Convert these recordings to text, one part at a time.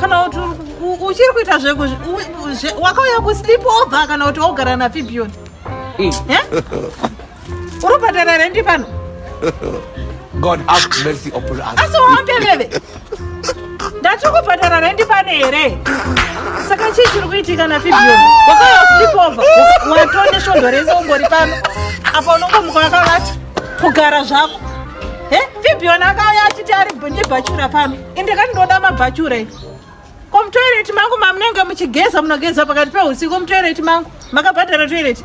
kana kuti uchiri kuita zvewakauya kusleep over kana kuti wogara nafibion mm. eh? uri kubhadhara rendi pano god have mercy upon us asi waambeveve ndati kubhadhara rendi pano here saka chii chiri kuitika nafibion wakauya kusleep over watone svondo rese ungori pano apa unongomuka wakavati kugara zvako eh? fibion akauya achiti ari bhachura pano ende kani ndoda mabvachure ko mutoireti mangu mamunenge muchigeza munogeza pakati peusiku mutoireti mangu makabhadhara toireti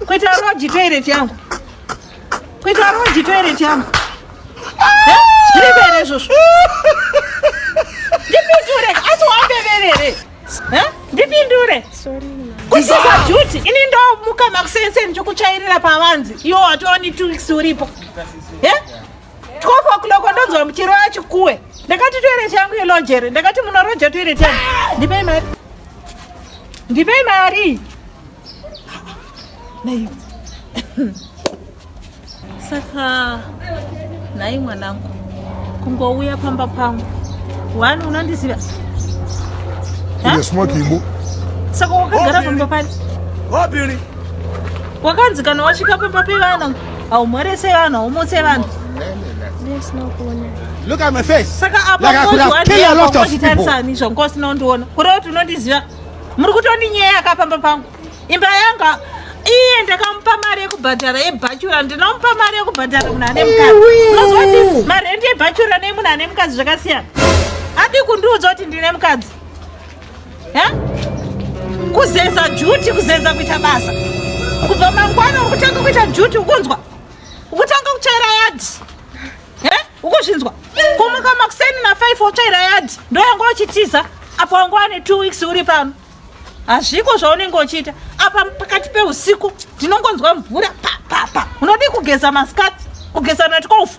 kuita roji toireti yangu kuita roji toireti yangu zviriberei zvozvo ndipindure asi wambeverere ndipindure kusiza juti ini ndomuka makusenseni chokuchairira pavanzi iwo watooni two weeks uripo 12 o'clock ndonzwa muchirova chikuwe ndakati toilet yangu yelojere ndakati munoroja toilet yangu ndipei mari ndipei mari naivo saka nhai mwanangu kungouya pamba pangu wani unondiziva saka wakagara pamba pani wakanzi kana wasvika pamba pevana haumhorese vanhu haumutse vanhu Look at my face. Saka apa like I could have killed a lot of people. Izvo nkosi nondiona. Kureva kuti unondiziva. Muri kutondinyaya akapamba pangu. Imba yanga iye ndakamupa mari yekubhadhara yebhachura ndinomupa mari yekubhadhara munhu ane mukadzi marendi yebhachura nemunhu ane mukadzi zvakasiyana adi kundiudza kuti ndine mukadzi Eh? Kuzeza duty, kuzeza kuita basa. Kubva mangwana ukutanga kuita duty ukunzwa. Ukutanga kuchaira yard. Eh? Ukuzvinzwa. Kumuka makuseni na 5 wochaira yard. Ndo yangu uchitiza. Apo wangu ane 2 weeks uri pano. Hazviko zvaunenge uchiita. Apa pakati peusiku ndinongonzwa mvura pa pa pa. Unodii kugeza maskati? Kugeza natikofu.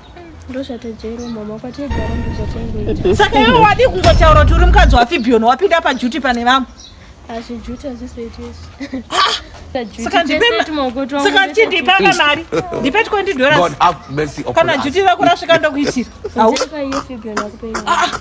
saka iwe wadii kungotaura kuti uri mukadzi wafibion wapinda pajuti pane vamwe saka chindipanga mari ndipe 20 dollars kana juti rako rasvika ndokuitira